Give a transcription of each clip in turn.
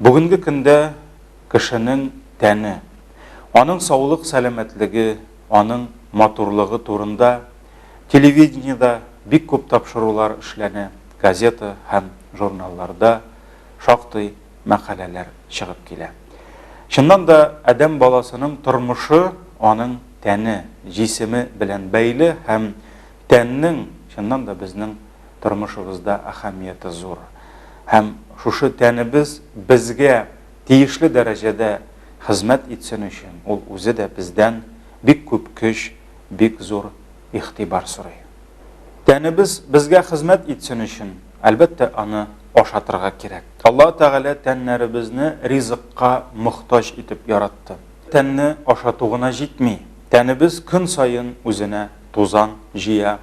Бүгенге көндә кешенең тәне, аның саулык-сәламәтлеге, аның матурлыгы турында телевидениедә бик күп тапшырулар эшләнә, газета һәм журналларда шактый мәкаләләр чыгып килә. Чыннан да, адәм баласының тормышы аның тәне, җисеме белән бәйле һәм тәннең, чыннан да, безнең тормышыбызда әһәмияте зур. Һәм шушы тәнебез безгә тиешле дәрәҗәдә хезмәт итсен өчен, ул үзе дә бездән бик күп көч, бик зур игътибар сорый. Тәнебез безгә хезмәт итсен өчен, әлбәттә, аны ашатырга кирәк. Алла Тәгалә тәннәребезне ризыкка мохтаҗ итеп яратты. Тәнне ашату гына җитми, тәнебез көн саен үзенә тузан җыя,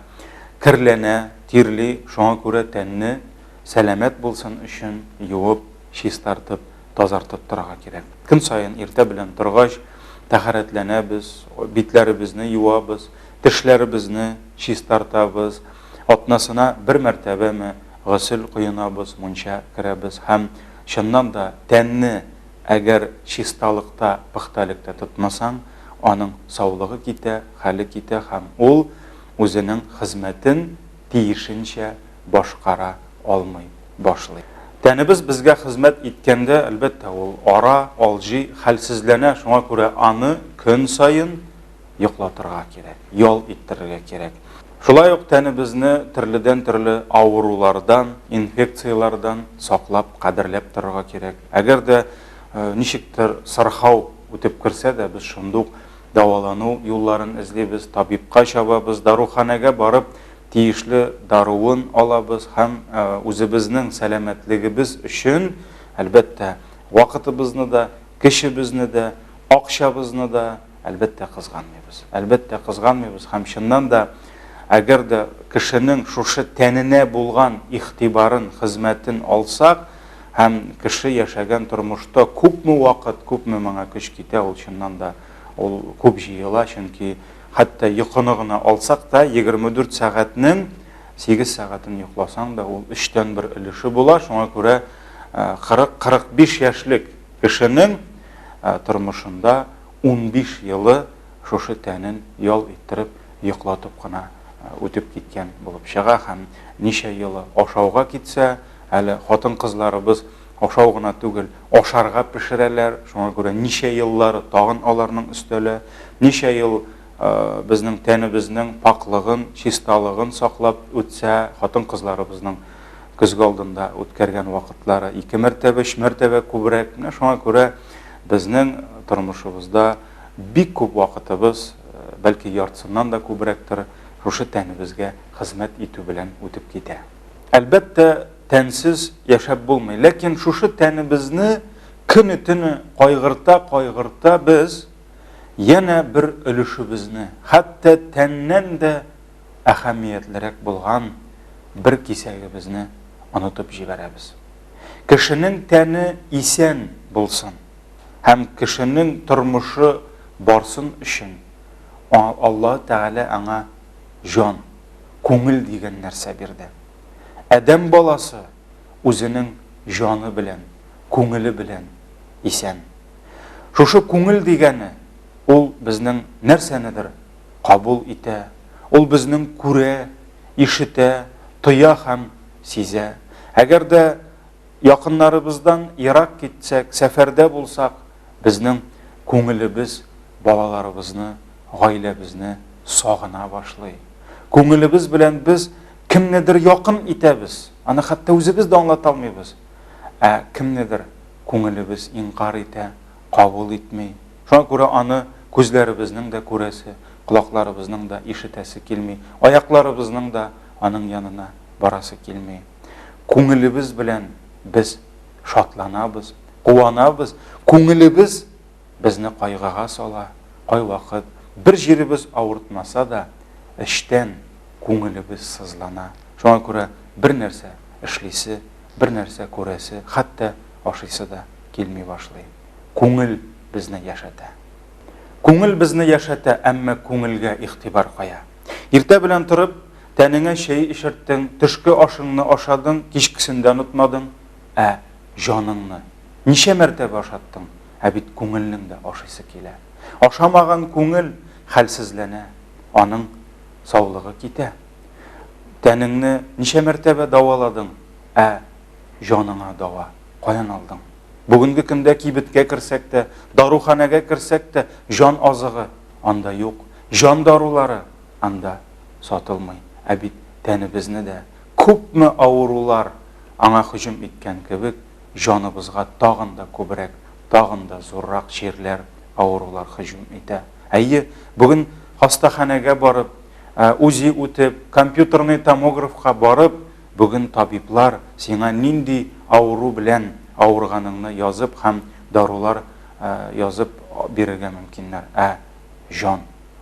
керләнә, тирли, шуңа күрә тәнне сәламәт булсын өчен юып, чистартып, тазартып торырга кирәк. Көн саен иртә белән торгач, тәһарәтләнәбез, битләребезне юабыз, тешләребезне чистартабыз, атнасына бер мәртәбәме госел коенабыз, мунча керәбез һәм, чыннан да, тәнне Әгәр чисталыкта, пөхтәлектә тотмасаң, аның саулыгы китә, хәле китә һәм ул үзенең хезмәтен тиешенчә башкара алмый башлый. Тәнебез безгә хезмәт иткәндә, әлбәттә, ул ара, алҗый, хәлсезләнә, шуңа күрә аны көн саен йоклатырга кирәк, ял иттерергә кирәк. Шулай ук тәнебезне төрледән-төрле авырулардан, инфекцияләрдән саклап, кадерләп торырга кирәк. Әгәр дә ничектер сырхау үтеп керсә дә, без шунда ук дәвалану юлларын эзлибез, табибка чабабыз, даруханәгә барып, тиешле даруын алабыз һәм үзебезнең сәламәтлегебез өчен, әлбәттә, вакытыбызны да, кешебезне дә, акчабызны да, Әлбәттә, кызганмыйбыз. Әлбәттә, кызганмыйбыз һәм чыннан да, әгәр дә кешенең шушы тәненә булган игътибарын, хезмәтен алсак һәм кеше яшәгән тормышта күпме вакыт, күпме моңа көч китә, ул чыннан да ул күп җыела, чөнки хәтта йокыны гына алсак та, 24 сәгатьнең 8 сәгатен йокласаң да, ул өчтән бер өлеше була, шуңа күрә 40-45 яшьлек кешенең тормышында Унбиш елы шушы тәнен ял иттереп, йоклатып кына үтеп киткән булып чыга һәм ничә елы ашауга китсә, әле хатын-кызларыбыз ашау гына түгел, ашарга пешерәләр, шуңа күрә ничә еллары тагын аларның өстәлә, ничә ел безнең тәнебезнең пакълыгын, чисталыгын саклап үтсә, хатын-кызларыбызның көзге алдында үткәргән вакытлары ике мәртәбә, өч мәртәбә күбрәк. Менә шуңа күрә безнең тормышыбызда бик күп вакытыбыз, э, бәлки яртысыннан да күбрәктер, шушы тәнебезгә хезмәт итү белән үтеп китә. Әлбәттә, тәнсез яшәп булмый, ләкин шушы тәнебезне көне-төне кайгырта-кайгырта без янә бер өлешебезне, хәтта тәннән дә әһәмиятлерәк булган бер кисәгебезне онытып җибәрәбез. Кешенең тәне исән булсын һәм кешенең тормышы барсын өчен Аллаһы Тәгалә аңа җан, күңел дигән нәрсә бирде. Адәм баласы үзенең җаны белән, күңеле белән исән. Шушы күңел дигәне ул безнең нәрсәнедер кабул итә, ул безнең күрә, ишетә, тоя һәм Сизә. Әгәр дә якыннарыбыздан ерак китсәк, сәфәрдә булсак, безнең күңелебез балаларыбызны, гаиләбезне сагына башлый. Күңелебез белән без кемнедер якын итәбез, аны хәтта үзебез дә аңлата алмыйбыз. Ә кемнедер күңелебез инкар итә, кабул итми. Шуңа күрә аны күзләребезнең дә күрәсе, колакларыбызның да ишетәсе килми, аякларыбызның да Аның янына барасы килми. Күңелебез белән без шатланабыз, куанабыз, күңелебез безне кайгыга сала, кайвакыт бер җиребез авыртмаса да, эчтән күңелебез сызлана. Шуңа күрә бернәрсә эшлисе, бернәрсә күрәсе, хәтта ашыйсы да килми башлый. Күңел безне яшәтә. Күңел безне яшәтә, әмма күңелгә игътибар кая? Иртә белән торып, тәнеңә чәй эчерттең, төшке ашыңны ашадың, кичкесен дә онытмадың. Ә җаныңны ничә мәртәбә ашаттың? Ә бит күңелнең дә ашыйсы килә. Ашамаган күңел хәлсезләнә, аның саулыгы китә. Тәнеңне ничә мәртәбә даваладың? Ә җаныңа дава каян алдың? Бүгенге көндә кибеткә керсәк тә, даруханәгә керсәк тә, җан азыгы. анда юк, җан дарулары анда сатылмый. Ә бит тәнебезне дә, күпме авырулар аңа һөҗүм иткән кебек, җаныбызга тагын да күбрәк, тагын да зуррак чирләр, авырулар һөҗүм итә. Әйе, бүген хастаханәгә барып, УЗИ үтеп, компьютерный томографка барып, бүген табиблар сиңа нинди авыру белән авырганыңны язып һәм дарулар язып бирергә мөмкиннәр, ә җан,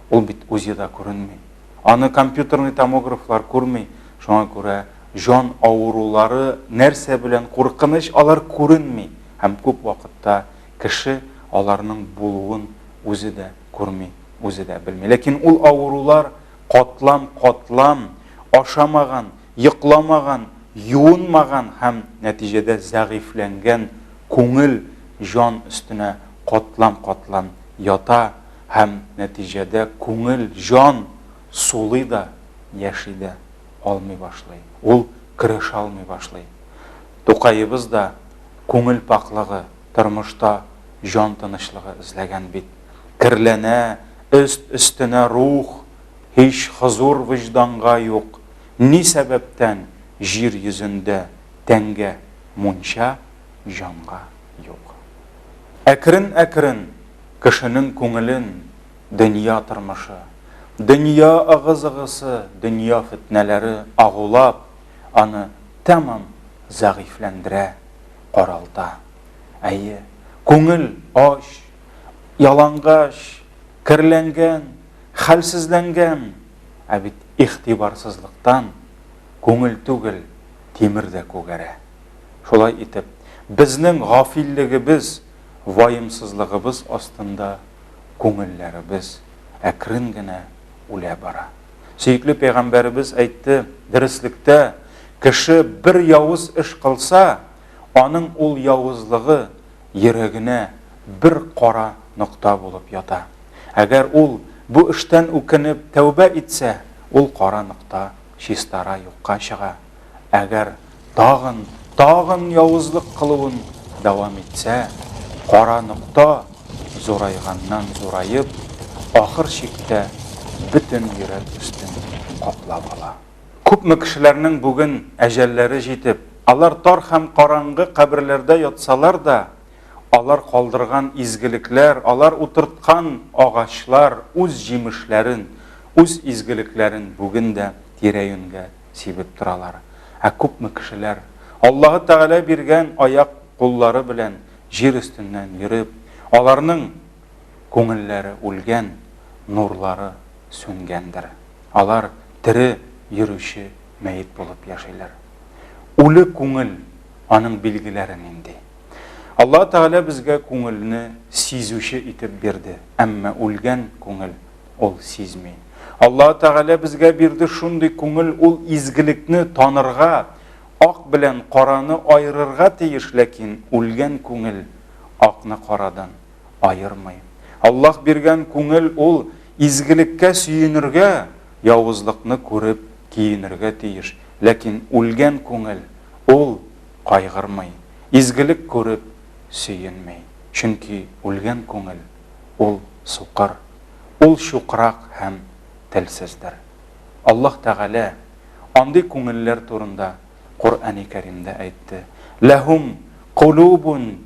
ул бит УЗИда күренми, аны компьютерный томографлар күрми, шуңа күрә җан авырулары нәрсә белән куркыныч, алар күренми һәм күп вакытта кеше аларның булуын үзе дә күрми, үзе дә белми. Ләкин ул авырулар катлам-катлам, ашамаган, йокламаган, юынмаган һәм, нәтиҗәдә, зәгыйфьләнгән күңел җан өстенә катлам-катлам ята һәм, нәтиҗәдә, күңел җан сулый да, яши дә алмый башлый, ул көрәшә алмый башлый. Тукаебыз да күңел пакълыгы, тормышта җан тынычлыгы эзләгән бит. Керләнә, өст-өстенә рух. Һич хозур вөҗданга юк, Ни сәбәптән җир йөзендә Тәнгә мунча, җанга юк? Әкрен-әкрен кешенең күңелен Дөнья тормышы, дөнья ыгы-зыгысы, Дөнья фетнәләре агулап, Аны тәмам зәгыйфьләндерә, каралта. Әйе, күңел ач, ялангач, керләнгән. Хәлсезләнгән, ә бит игътибарсызлыктан күңел түгел, тимер дә күгәрә. Шулай итеп, безнең гафиллегебез, ваемсызлыгыбыз астында күңелләребез әкрен генә үлә бара. Сөекле пәйгамбәребез әйтте, Дөреслектә, кеше бер явыз эш кылса, аның ул явызлыгы йөрәгенә бер кара нокта булып ята. Әгәр ул бу эштән үкенеп тәүбә итсә, ул кара нокта чистара юкка чыга. Әгәр тагын, тагын явызлык кылуын дәвам итсә, кара нокта зурайганнан зураеп, ахыр чиктә бөтен йөрәк өстен каплап ала. Күпме кешеләрнең бүген әҗәлләре җитеп, алар тар һәм караңгы каберләрдә ятсалар да, алар калдырган изгелекләр, алар утырткан агачлар үз җимешләрен, үз изгелекләрен бүген дә тирә-юньгә сибеп торалар. Ә күпме кешеләр, Аллаһы Тәгалә биргән аяк-куллары белән җир өстеннән йөреп, аларның Күңелләре үлгән, нурлары сүнгәндер. Алар тере йөрүче мәет булып яшиләр. Үле күңел, аның билгеләре нинди? Аллаһ Тәгалә безгә күңелне сизүче итеп бирде, әмма үлгән күңел ул сизми. Аллаһ Тәгалә безгә бирде шундый күңел, ул изгелекне танырга, ак белән караны аерырга тиеш, ләкин үлгән күңел акны карадан аермый. Аллаһ биргән күңел ул изгелеккә сөенергә, явызлыкны күреп киенергә тиеш. Ләкин үлгән күңел ул кайгырмый, изгелек күреп сөенми. Чөнки үлгән күңел ул сукыр, ул чукрак һәм телсездер. Аллаһ Тәгалә андый күңелләр турында Коръәни Кәримдә әйтте, Ләһүм кулубун,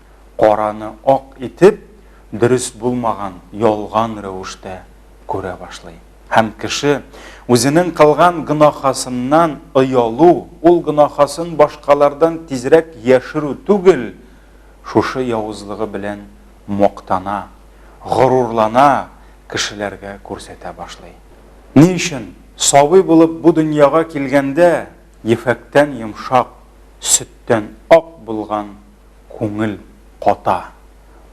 караны ак итеп, дөрес булмаган, ялган рәвештә күрә башлый. Һәм кеше үзенең кылган гөнаһасыннан оялу, ул гөнаһасын башкалардан тизрәк яшерү түгел, шушы явызлыгы белән мактана, горурлана, кешеләргә күрсәтә башлый. Ни өчен? Сабый булып бу дөньяга килгәндә, ефәктән йомшак, сөттән ак булган Күңел ката,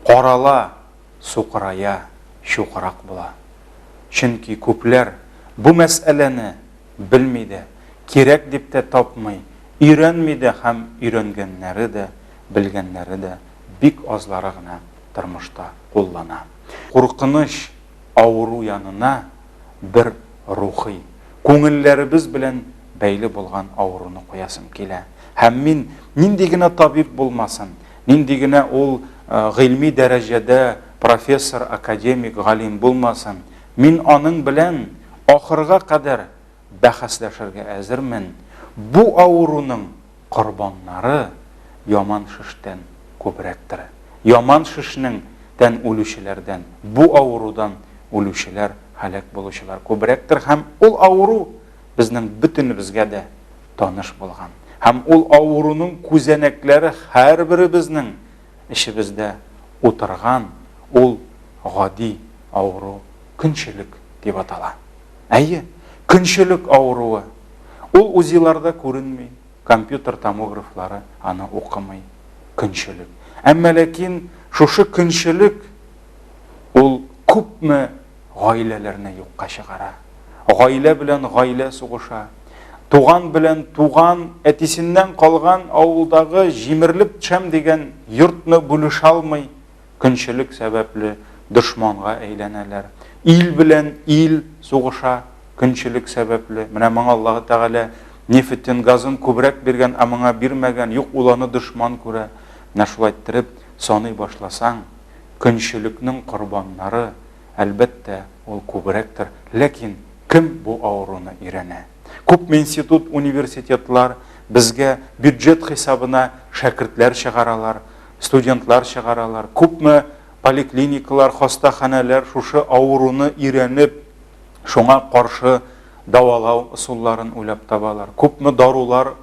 карала, сукырая, чукырак була. Чөнки күпләр бу мәсьәләне белми дә, кирәк дип тә тапмый, өйрәнми дә һәм өйрәнгәннәре дә, белгәннәре дә бик азлары гына тормышта куллана. Куркыныч авыру янына бер рухи, күңелләребез белән бәйле булган авыруны куясым килә. Һәм мин нинди генә табиб булмасын, нинди генә ул гыйльми дәрәҗәдә профессор, академик, галим булмасын, мин аның белән ахырга кадәр бәхәсләшергә әзермен, бу авыруның корбаннары яман шештән күбрәктер. Яман шешнең тән үлүчеләрдән бу авырудан үлүчеләр, һәлак булучылар күбрәктер һәм ул авыру безнең бөтенебезгә дә таныш булган һәм ул авыруның күзәнәкләре һәрберебезнең Эчебездә утырган ул гади авыру көнчелек дип атала. Әйе, көнчелек авыруы. Ул УЗИларда күренми, компьютер томографлары аны укымый. Көнчелек. Әмма ләкин шушы көнчелек ул күпме гаиләләрне юкка чыгара. Гаилә белән гаилә сугыша. Туган белән туган, әтисеннән калган авылдагы җимерлеп төшәм дигән йортны бүлешә алмый, көнчелек сәбәпле дошманга әйләнәләр. Ил белән ил сугыша, көнчелек сәбәпле. Менә моңа Аллаһ Тәгалә нефтен, газын күбрәк биргән, ә моңа бирмәгән, юк, ул аны дошман күрә. Менә шулай иттереп саный башласаң, Көнчелекнең корбаннары, әлбәттә, ул күбрәктер. Ләкин кем бу авыруны өйрәнә? Күпме институт, университетлар безгә бюджет хисабына шәкертләр чыгаралар, студентлар чыгаралар. Күпме поликлиникалар, хастаханәләр шушы авыруны өйрәнеп, шуңа каршы дәвалау ысулларын уйлап табалар. Күпме дарулар,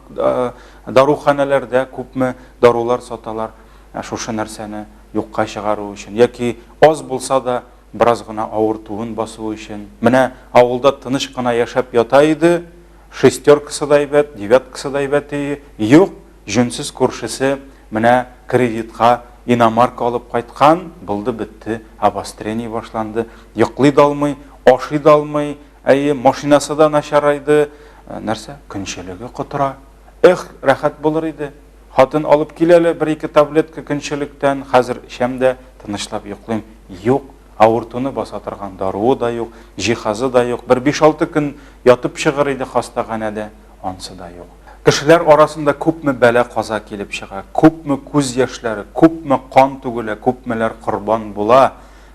даруханәләрдә күпме дарулар саталар. Ә шушы нәрсәне юкка чыгару өчен, яки аз булса да бераз гына авыртуын басу өчен, менә авылда тыныч кына яшәп ята иде, шестеркасы да әйбәт, девяткасы да әйбәт ие, юк, җүнсез күршесе менә кредитка иномарка алып кайткан, булды бетте, обострение башланды, йоклый да алмый, ашый да алмый, әйе, машинасы да начарайды, нәрсә, көнчелеге котыра. Эх, рәхәт булыр иде! Хатын алып кил әле бер-ике таблетка көнчелектән, хәзер эчәм дә, тынычлап йоклыйм. Юк, авыртуны баса торган даруы да юк, җиһазы да юк. Бер биш-алты көн ятып чыгыр иде хастаханәдә, ансы да юк. Кешеләр арасында күпме бәла-каза килеп чыга, күпме күз яшьләре, күпме кан түгелә, күпмеләр корбан була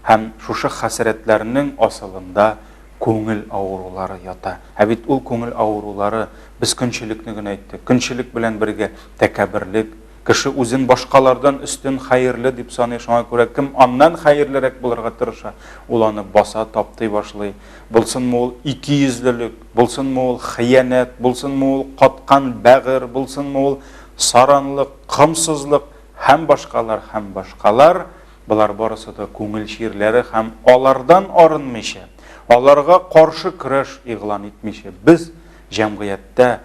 һәм шушы хәсрәтләрнең асылында Күңел авырулары ята. Ә бит ул күңел авырулары, без көнчелекне генә әйттек. Көнчелек белән бергә тәкәбберлек. Кеше үзен башкалардан өстен, хәерле дип саный, шуңа күрә кем аннан хәерлерәк булырга тырыша, ул аны баса, таптый башлый. Булсынмы ул икейөзлелек, булсынмы ул хыянәт, булсынмы ул каткан бәгырь, булсынмы ул саранлык, комсызлык һәм башкалар, һәм башкалар, Болар барысы да күңел чирләре һәм алардан арынмыйча, аларга каршы көрәш игълан итмичә, без җәмгыятьтә,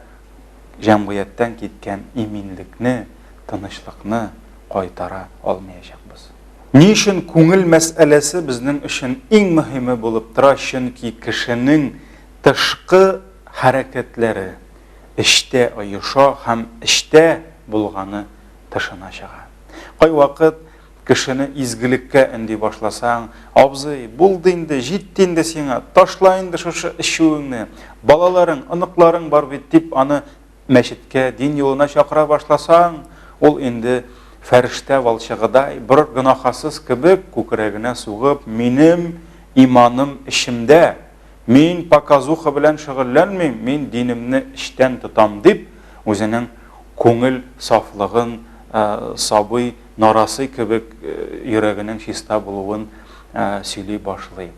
җәмгыятьтән киткән иминлекне, тынычлыкны кайтара алмыячакбыз. Ни өчен күңел мәсьәләсе безнең өчен иң мөһиме булып тора, чөнки кешенең тышкы хәрәкәтләре эчтә оеша һәм эчтә булганы тышына чыга. Кайвакыт Кешене изгелеккә өнди башласаң, Абзый, булды инде, җитте инде сиңа, ташла инде шушы эчүеңне, балаларың, оныкларың бар бит, дип аны мәчеткә, дин юлына чакыра башласаң, ул инде фәрештә валчыгыдай, бер гөнаһасыз кебек күкрәгенә сугып, Минем иманым эчемдә, мин показуха белән шөгыльләнмим, мин динемне эчтән тотам, дип, үзенең күңел сафлыгын сабый нарасый кебек йөрәгенең чиста булуын сөйли башлый.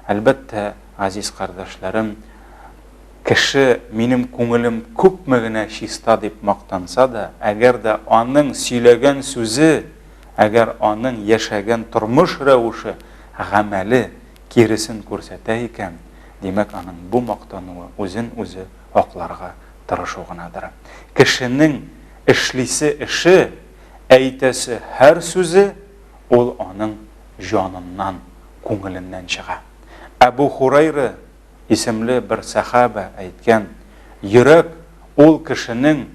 Әлбәттә, газиз кардәшләрем, кеше минем күңелем күпме генә чиста дип мактанса да, әгәр дә аның сөйләгән сүзе, әгәр аның яшәгән тормыш рәвеше, гамәле киресен күрсәтә икән, димәк, аның бу мактануы үзен үзе акларга тырышу гынадыр. Кешенең эшлисе эше, әйтәсе һәр сүзе ул аның җаныннан, күңеленнән чыга. Әбү Хурайра исемле бер сәхабә әйткән, Йөрәк ул кешенең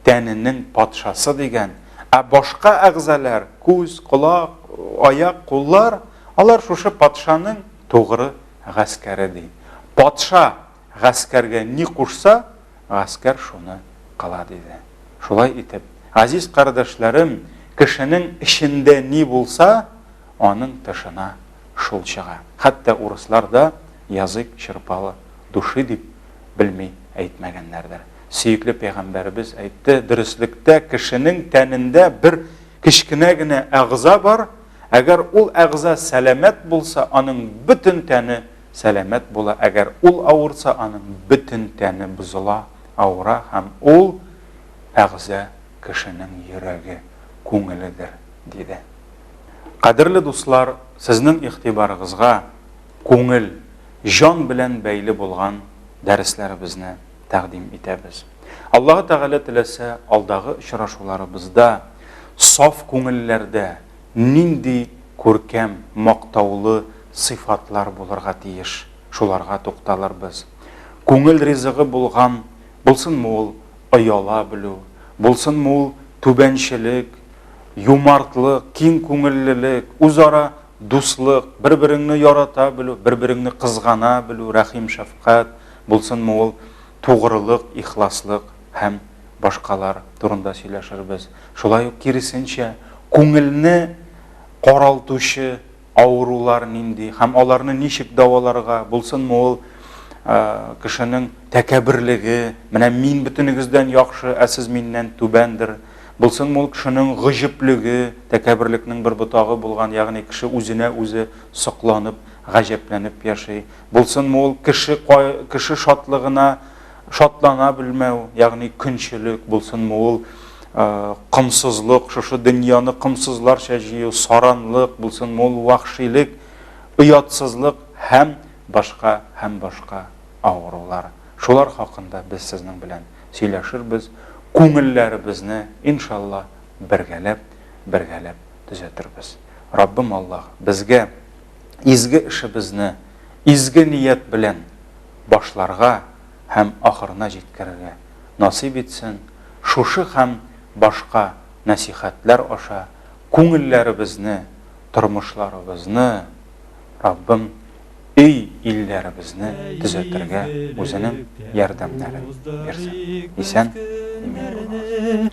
тәненең патшасы дигән, ә башка әгъзалар, күз, колак, аяк, куллар, алар шушы патшаның тугры гаскәре ди. Патша Гаскәргә ни кушса, гаскәр шуны кыла, диде. Шулай итеп, газиз кардәшләрем, кешенең эчендә ни булса, аның тышына шул чыга. Хәтта урыслар да язык черпала души дип белми әйтмәгәннәрдер. Сөекле пәйгамбәребез әйтте, дөреслектә кешенең тәнендә бер кечкенә генә әгъза бар, әгәр ул әгъза сәламәт булса, аның бөтен тәне сәламәт була, әгәр ул авырса, аның бөтен тәне бозыла, авыра һәм ул әгъза кешенең йөрәге, күңеледер, диде. Кадерле дуслар, сезнең игътибарыгызга күңел, җан белән бәйле булган дәресләребезне тәкъдим итәбез. Аллаһы Тәгалә теләсә, алдагы очрашуларыбызда саф күңелләрдә, нинди күркәм, мактаулы сыйфатлар булырга тиеш, шуларга тукталырбыз. Күңел ризыгы булган, булсынмы ул ояла белү, булсынмы ул түбәнчелек, юмартлык, киң күңеллелек, үзара дуслык, бер-береңне ярата белү, бер-береңне кызгана белү, рәхим-шәфкать, булсынмы ул тугрылык, ихласлык. һәм башкалар турында сөйләшербез. Шулай ук киресенчә, күңелне каралтучы авырулар нинди һәм аларны ничек дәваларга, булсынмы ул кешенең тәкәбберлеге, менә мин бөтенегездән яхшы, ә сез миннән түбәндер, булсынмы ул кешенең гыҗеплеге, тәкәбберлекнең бер ботагы булган, ягъни кеше үзенә үзе сокланып, гаҗәпләнеп яши. Булсынмы ул кеше кеше шатлыгына Шатлана белмәү, ягъни көнчелек, булсынмы ул комсызлык, шушы дөньяны комсызларча җыю, саранлык, булсынмы ул вәхшилек, оятсызлык һәм башка һәм башка авырулар. Шулар хакында без сезнең белән сөйләшербез, күңелләребезне, иншалла, бергәләп, бергәләп төзәтербез. Раббым Аллаһ безгә изге эшебезне изге ният белән башларга һәм ахырына җиткерергә насыйп итсен, шушы һәм башка нәсыйхәтләр аша күңелләребезне, тормышларыбызны Раббым өй илләребезне төзәтергә үзенең ярдәмнәрен бирсен. Исән имин булыгыз.